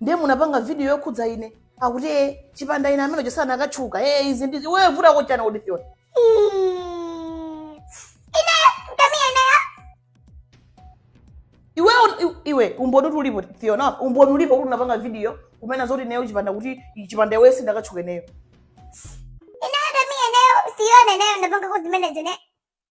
ndiye munapanga video yokhudza ine akuti e chipanda ine ameneyo sanakatchuka e izi ndizi iwe vuta kochana kuti fyona iwe un- i- iwe umboni kuti ulipo fyona umboni ulipo kuti unapanga video kunena zoti ineyo chipanda kuti chipanda iweyo sindikanatchuka ineyo inaenda mie nayo sione nayo napanga kuzimene zine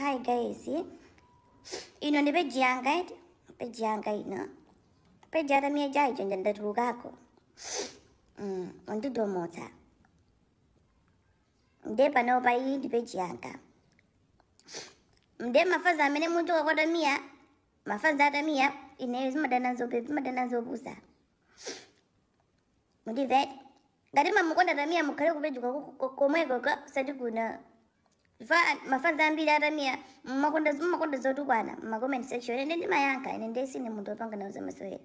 Hi guys, eh? ino ndi peji yanga eti peji yanga ino peji yata miya jaicho nja ndatulukako mm, undidomotsa nde panopa iyi ndi peji yanga mde mafazi amene muchoka kwa tamiya mafanzi atamiya ineyo ndimadana nzope ndimadana nzopusa mundimvere ngati mmamukonda tamiya mukhale ku page yake komweko osati kuno mafa mafanzi ambiri atamiya mmakonda mmakonda zotukwana mma comment section ine nde ndimayankha ine ndiye sindine munthu wopanga nawo zamasewera